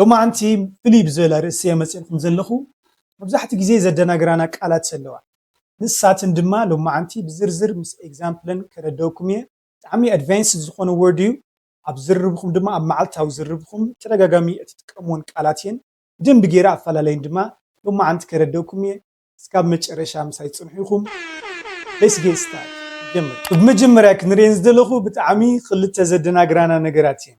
ሎማዓንቲ ፍልይ ብዝበለ ርእሲ እየ መጺኤልኩም ዘለኹ መብዛሕትኡ ግዜ ዘደናግራና ቃላት ኣለዋ ንሳትን ድማ ሎማዓንቲ ብዝርዝር ምስ ኤግዛምፕለን ከረደኩም እየ ብጣዕሚ ኣድቫንስድ ዝኾነ ወርድ እዩ ኣብ ዝርርብኹም ድማ ኣብ ማዓልታዊ ዝርርብኹም ብተደጋጋሚ እትጥቀምወን ቃላት እየን ብደንቢ ጌረ ኣፋላላየን ድማ ሎማዓንቲ ከረደኩም እየ እስካብ መጨረሻ ምሳይ ጽንሑ ኢኹም Let's get start ንጀምር ብመጀመርያ ክንርኤን ዝደለኹ ብጣዕሚ ክልተ ዘደናግራና ነገራት እየን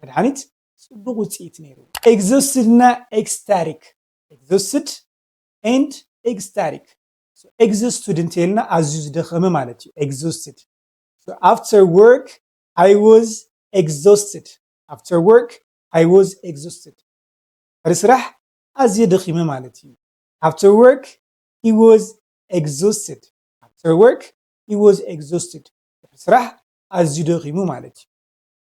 መድሓኒት ፅቡቕ ውፅኢት ነይሩ። ኤግዞስትድ እና ኤግስታሪክ፣ Exhausted and Ecstatic፣ ኤግዞስትድ እንተይልና ኣዝዩ ዝደኸመ ማለት እዩ። ኤግዞስትድ፣ ኣፍተር ወርክ ኣይ ወዝ ኤግዞስትድ፣ ኣፍተር ወርክ ኣይ ወዝ ኤግዞስትድ፣ ድሕሪ ስራሕ ኣዝየ ደኺመ ማለት እዩ። ኣፍተር ወርክ ሂ ወዝ ኤግዞስትድ፣ ኣፍተር ወርክ ሂ ወዝ ኤግዞስትድ፣ ድሕሪ ስራሕ ኣዝዩ ደኺሙ ማለት እዩ።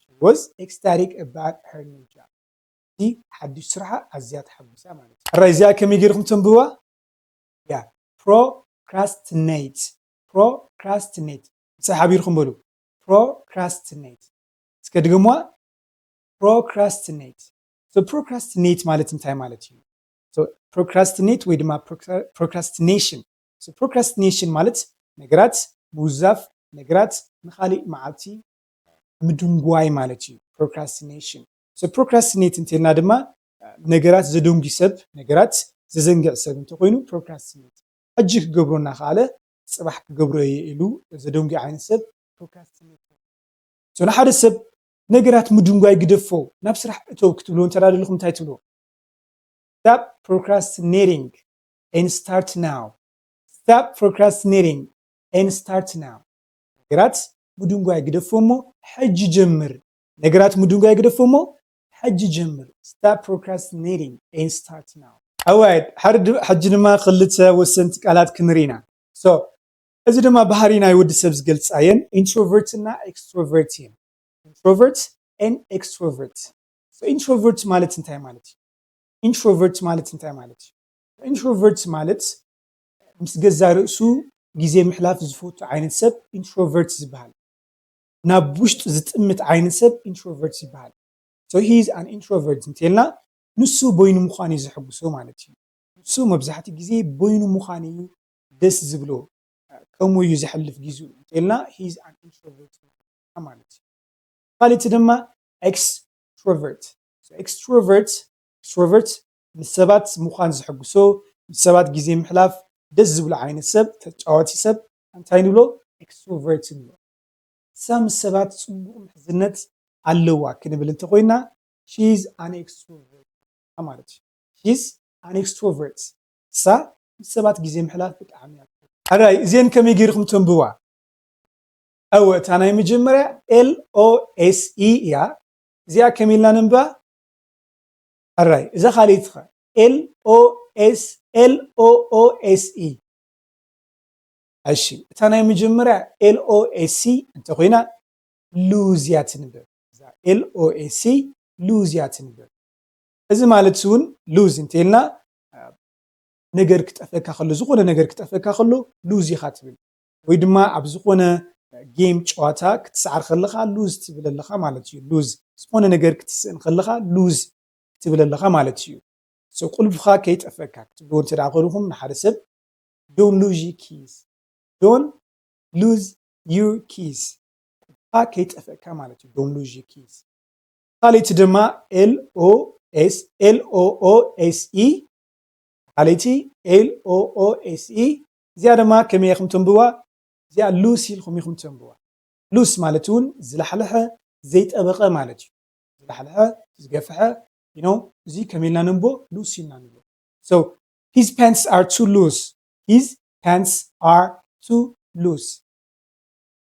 ሺ ወዝ ኤክስታሪክ ኣባውት ሀር ኒው ጃብ በቲ ሓዱሽ ስርሓ ኣዝያ ተሓጒሳ ማለት እዩ። ሕራይ እዚኣ ከመይ ጌርኩም ተንብብዋ እያ ፕሮክራስትኔት ፕሮክራስትኔት ምሳይ ሓቢርኩም በሉ ፕሮክራስትኔት እስከ ድገምዋ ፕሮክራስትኔት ሶ ፕሮክራስትኔት ማለት እንታይ ማለት እዩ ሶ ፕሮክራስትኔት ወይ ድማ ፕሮክራስትኔሽን ሶ ፕሮክራስትኔሽን ማለት ነገራት ምውዛፍ ነገራት ንኻሊእ መዓልቲ ምድንጓይ ማለት እዩ ፕሮክራስቲኔሽን። ሰብ ፕሮክራስቲኔት እንተልና ድማ ነገራት ዘደንጒ ሰብ፣ ነገራት ዘዘንግዕ ሰብ እንተኾይኑ ፕሮክራስቲኔት፣ ሕጂ ክገብሮ እናኸኣለ ጽባሕ ክገብሮ እየ ኢሉ ዘደንጒ ዓይነት ሰብ ፕሮክራስቲኔተር። ሶ ንሓደ ሰብ ነገራት ምድንጓይ ግደፎ ናብ ስራሕ እተው ክትብልዎ እንተ ደሊኹም እንታይ ትብልዎ? Stop procrastinating and start now Stop procrastinating and start now ነገራት ምድንጓይ ግደፎ እሞ ሕጂ ጀምር ነገራት ምድንጓይ ግደፎ እሞ ሕጂ ጀምር Stop procrastinating and start now ኣዋይድ ሕጂ ድማ ክልተ ወሰንቲ ቃላት ክንርኢ ኢና so እዚ ድማ ባህሪ ናይ ወዲ ሰብ ዝገልጻ እየን ኢንትሮቨርት እና ኤክስትሮቨርት እየን ኢንትሮቨርት and extrovert so ኢንትሮቨርት ማለት እንታይ ማለት እዩ ኢንትሮቨርት ማለት እንታይ ማለት እዩ ኢንትሮቨርት ማለት ምስ ገዛእ ርእሱ ግዜ ምሕላፍ ዝፈቱ ዓይነት ሰብ ኢንትሮቨርት ዝበሃል። ናብ ውሽጡ ዝጥምት ዓይነት ሰብ ኢንትሮቨርት ይበሃል። So he is an introvert እንተልና ንሱ በይኑ ምዃን እዩ ዘሐጉሶ ማለት እዩ። ንሱ መብዛሕትኡ ግዜ በይኑ ምዃን እዩ ደስ ዝብሎ፣ ከምኡ እዩ ዘሕልፍ ጊዝኡ እንተልና he is an introvert ምዃንና ማለት እዩ። ካልእቲ ድማ ኤክስትሮቨርት፣ So extrovert፣ extrovert፣ ምስ ሰባት ምዃን ዘሐጉሶ ምስ ሰባት ግዜ ምሕላፍ ደስ ዝብሎ ዓይነት ሰብ ተጫዋቲ ሰብ ኣንታይ ንብሎ Extrovert ንብሎ ንሳ ምስ ሰባት ጽቡቅ ምሕዝነት ኣለዋ ክንብል እንተኮይና She is an Extrovert እያ ማለት እዩ She is an Extrovert ንሳ ምስ ሰባት ግዜ ምሕላፍ ብጣዕሚ እያ ትፈቱ። ሕራይ እዜን ከመይ ገይርኩም ተንብዋ። እወ እታ ናይ መጀመርያ LOSE እያ እዚኣ ከመይ ኢልና ነንብባ? ሕራይ እዛ ካልኢት ከ? LOSLOOSE እሺ እታ ናይ መጀመርያ LOSE እንተኾይና lose እያ ትንበብ እዛ LOSE lose እያ ትንበብ እዚ ማለት እውን lose እንተይልና ነገር ክጠፈካ ከሎ ዝኾነ ነገር ክጠፈካ ከሎ lose ኢኻ ትብል ወይ ድማ ኣብ ዝኾነ ጌም ጨዋታ ክትስዓር ከለኻ ሉዝ ትብል ኣለኻ ማለት እዩ ሉዝ ዝኾነ ነገር ክትስእን ከለኻ ሉዝ ክትብል ኣለኻ ማለት እዩ ሶ ቁልፍኻ ከይጠፈካ ክትብልዎ እንተ ከልኹም ንሓደ ሰብ ዶን ሉዝ ዩ ኪስ ዶን ሉዝ ዩ ኪስ ቁልፍኻ ከይጠፈካ ማለት እዩ ዶን ሉዝ ዩ ኪስ ካልእቲ ድማ ኤልኦኤስ ኤልኦኦኤስኢ ካልእቲ ኤልኦኦኤስኢ እዚኣ ደማ ከመይ ኢኹም ተንብብዋ እዚኣ ሉስ ኢልኩም ኢኹም ተንብብዋ ሉስ ማለት ውን ዝላሕለሐ ዘይጠበቐ ማለት እዩ ዝላሕለሐ ዝገፈሐ you know እዚ ከመይ ኢልና ነንብቦ ሉስ ኢልና ንብሎ so his pants are too loose his pants are too loose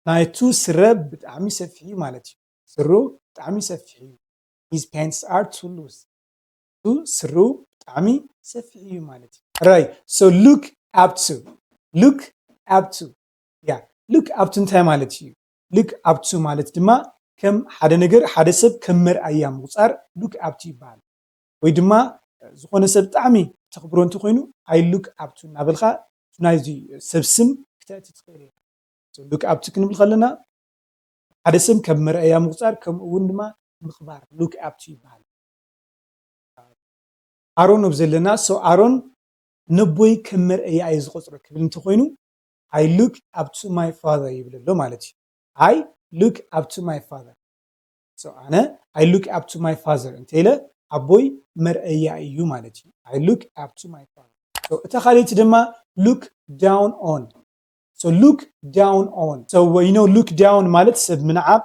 ናይቱ ስረ ብጣዕሚ ሰፊሕ እዩ ማለት እዩ ስሩ ብጣዕሚ ሰፊሕ እዩ his pants are too loose ቱ ስሩ ብጣዕሚ ሰፊሕ እዩ ማለት እዩ ራይት ሶ ሉክ ኣፕ ቱ ሉክ ኣፕ ቱ ያ ሉክ ኣፕ ቱ እንታይ ማለት እዩ ሉክ ኣፕ ቱ ማለት ድማ ከም ሓደ ነገር ሓደ ሰብ ከም መርኣያ ምቑፃር ሉክ ኣፕ ቱ ይበሃል ወይ ድማ ዝኾነ ሰብ ብጣዕሚ ተኽብሮ እንተኾይኑ ኣይ ሉክ ኣፕ ቱ እናበልካ ናይዚ ሰብ ስም ክተእቲ ትኽእል ኢኻ ሶ ሉክ ኣፕ ቱ ክንብል ከለና ሓደ ሰብ ከም መርኣያ ምቑፃር ከምኡ እውን ድማ ምኽባር ሉክ ኣፕ ቱ ይበሃል። ኣሮን ኣብ ዘለና ሶ ኣሮን ነቦይ ከም መርኣያ እየ ዝቆፅሮ ክብል እንተኮይኑ ኣይ ሉክ ኣፕ ቱ ማይ ፋዘር ይብል ኣሎ ማለት እዩ ኣይ ሉክ ኣፕ ቱ ማይ ፋዘር ሶ ኣነ ኣይ ሉክ ኣፕ ቱ ማይ ፋዘር እንተኢለ ኣቦይ መርኣያ እዩ ማለት እዩ ኣይ ሉክ ኣፕ ቱ ማይ ፋዘር እታ ካልእቲ ድማ ሉክ ዳውን ኦን ሶ ሉክ ዳውን ኦን ሶ ዩ ኖ ሉክ ዳውን ማለት ሰብ ምንዓቅ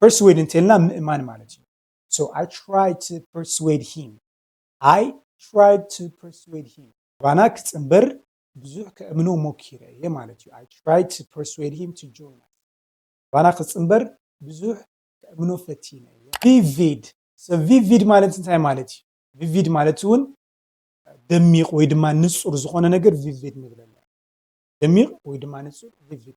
ፐርስዌድ እንተልና ምእማን ማለት እዩ ሶ ኣይ ትራይድ ቱ ፐርስዌድ ሂም ኣይ ትራይድ ቱ ፐርስዌድ ሂም ባና ክፅምበር ብዙሕ ከእምኖ ሞኪረ እየ ማለት እዩ ኣይ ትራይድ ቱ ፐርስዌድ ሂም ቱ ጆይን ባና ክፅምበር ብዙሕ ከእምኖ ፈቲነ እየ ቪቪድ ቪቪድ ማለት እንታይ ማለት እዩ ቪቪድ ማለት እውን ደሚቕ ወይ ድማ ንፁር ዝኾነ ነገር ቪቪድ ንብለና ደሚቕ ወይ ድማ ንፁር ቪቪድ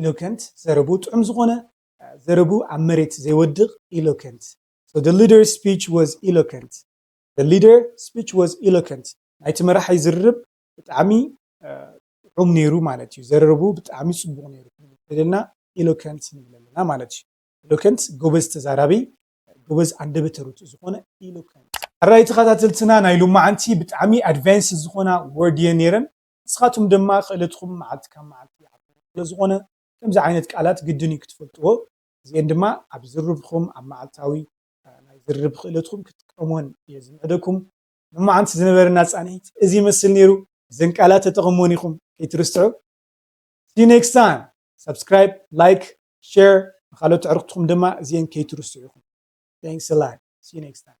ኢሎከንት ዘረብኡ ጥዑም ዝኾነ ዘረብኡ ኣብ መሬት ዘይወድቕ ኢሎከንት so the leader speech was eloquent the leader speech was eloquent ናይቲ መራሒ ዝርርብ ብጣዕሚ ጥዑም ነይሩ ማለት እዩ ዘረርብኡ ብጣዕሚ ጽቡቕ ነይሩ ክንብልና ኢሎከንት ንብል ኣለና ማለት እዩ ኢሎከንት ጎበዝ ተዛራቢ ጎበዝ ኣንደበተ ርቱዕ ዝኾነ ኢሎከንት ኣራይ ተኸታተልትና ናይ ሎማዓንቲ ብጣዕሚ ኣድቫንስ ዝኾና ወርድ እየን ነይረን ንስኻትኩም ድማ ክእለትኩም መዓልቲ ካብ መዓልቲ ይዓቢ ስለ ዝኾነ ከምዚ ዓይነት ቃላት ግድን እዩ ክትፈልጥዎ እዚኤን ድማ ኣብ ዝርርብኹም ኣብ መዓልታዊ ናይ ዝርርብ ክእለትኩም ክትጥቀምወን እየ ዝምዕደኩም። ሎማዓንቲ ዝነበረና ፃንሒት እዚ ይመስል ነይሩ እዘን ቃላት ተጠቐምወን ኢኹም ከይትርስዑ See you next time Subscribe Like Share ንኻልኦት ኣዕርኽትኹም ድማ እዚኤን ከይትርስዑ ኢኹም Thanks a lot See you next time